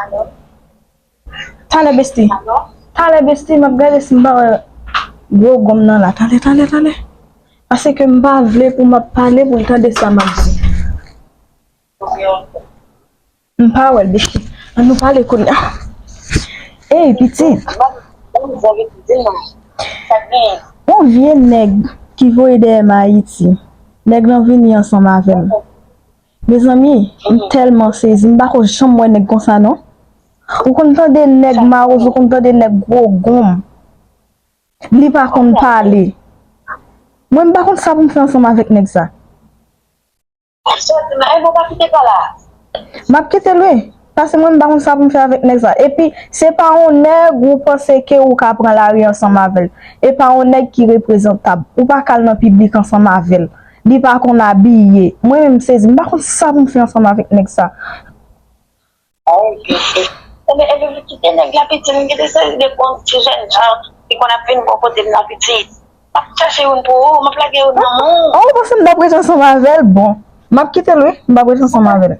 Alò? Talè besti. Alò? Talè besti map gade si m pa wè gwo gonm nan la. Talè talè talè. Pase ke m pa vle pou map pale pou l tande sa map di. Ou gen yon kou? M pa wè l besti. An nou pale kounya. Ey pitit. Ou vwa gen pou di nan. Sa k genyen? Yon vye nèg ki voye dèyè m Ayiti. Nèg lan vini ansanm avè m. Mezanmi m telman sezi m pako janm wè nèg konsa non ou konn tande nèg mawozo ou konn tande nèg gro gonm li pa konn pale mwen m pa konn sa pou m fè ansanm avèk nèg sa. Map kitel wi. Pase mwen m pa konn sa pou m fè avèk nèg sa. Epi se pa yon nèg ou panse ke ou ka pran lari ansanm avè l. E pa yon nèg ki reprezantab. Ou pa ka al nan piblik ansanm avè l. Li pa konn abiye. Mwen menm m sezi. M pa konn sa pou m fè ansanm avèk nèg sa. Ou byen fèt. Ebyen ebyen m kite nèg la piti. M kite sezi de bon ti jèn jan ki konn ap vin bò kote m nan piti. M ap chache youn pou ou. M ap lage youn nan men w. A ou panse m t ap ret ansanm avè l? Bon. M ap kite l wi. M p ap ret ansanm avè l.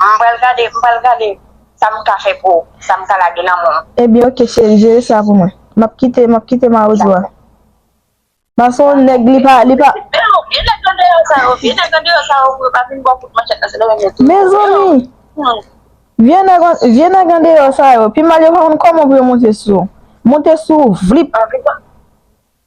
M pral gade m pral gade sa m ka fè pou sa m ka lage nan menw. Ebyen ok cheri jere sa pou mwen. Map kite map kite mawozo a. Ba son nèg li pa li pa. Vye nèg andeyò sa yo vye nèg andeyò sa yo pou yo pa vin baw kout manchèt nan se lè yo mete yo. Mezanmi vye nèg vye nèg andeyò sa yo pi mal yo pa konn kòman pou yo monte sou ou. Monte sou ou vlip.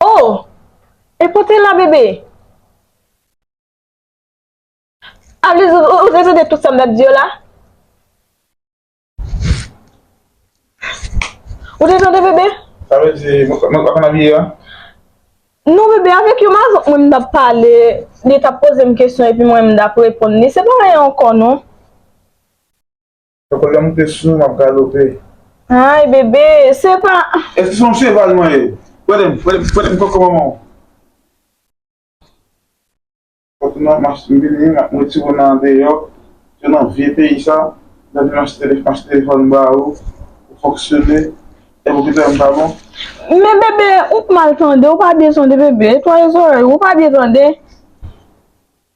Oh! E pote la bebe! Aviz ou ou te tande tout sa m tap di yo la? Ou te tande bebe? Sa vle di mwen pa konn abiye a? Non bebe avèk yon mazòk mwen m tap pale, li tap poze m kesyon epi mwen m tap reponn li, se pa anyen ankò non. Fè kòlè moute sou mwen m ap galope. Ayy bebe se pa. Eske se yon cheval mwen ye? Pwede m, pwede m, pwede m koko manman w. Kòk nan m achte m vini m retire w nan andeyò ke nan vye peyi sa nan vin m achte m achte telefòn ba ou pou fonksyone e pou kite m pa bon? Men bebe ou p mal tande ou pa byen tande bebe netwaye zòrèy ou ou pa byen tande.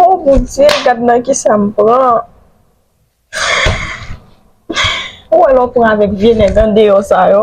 Oh mon Dieu, gad nan kisa m pran. Ou wè lè w pran avèk vye nèg andeyò sa yo.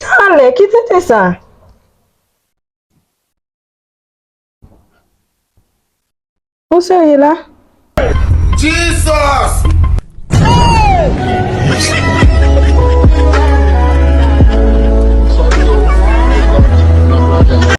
Talè! Ki tenten sa? Ou serye la? Jesus!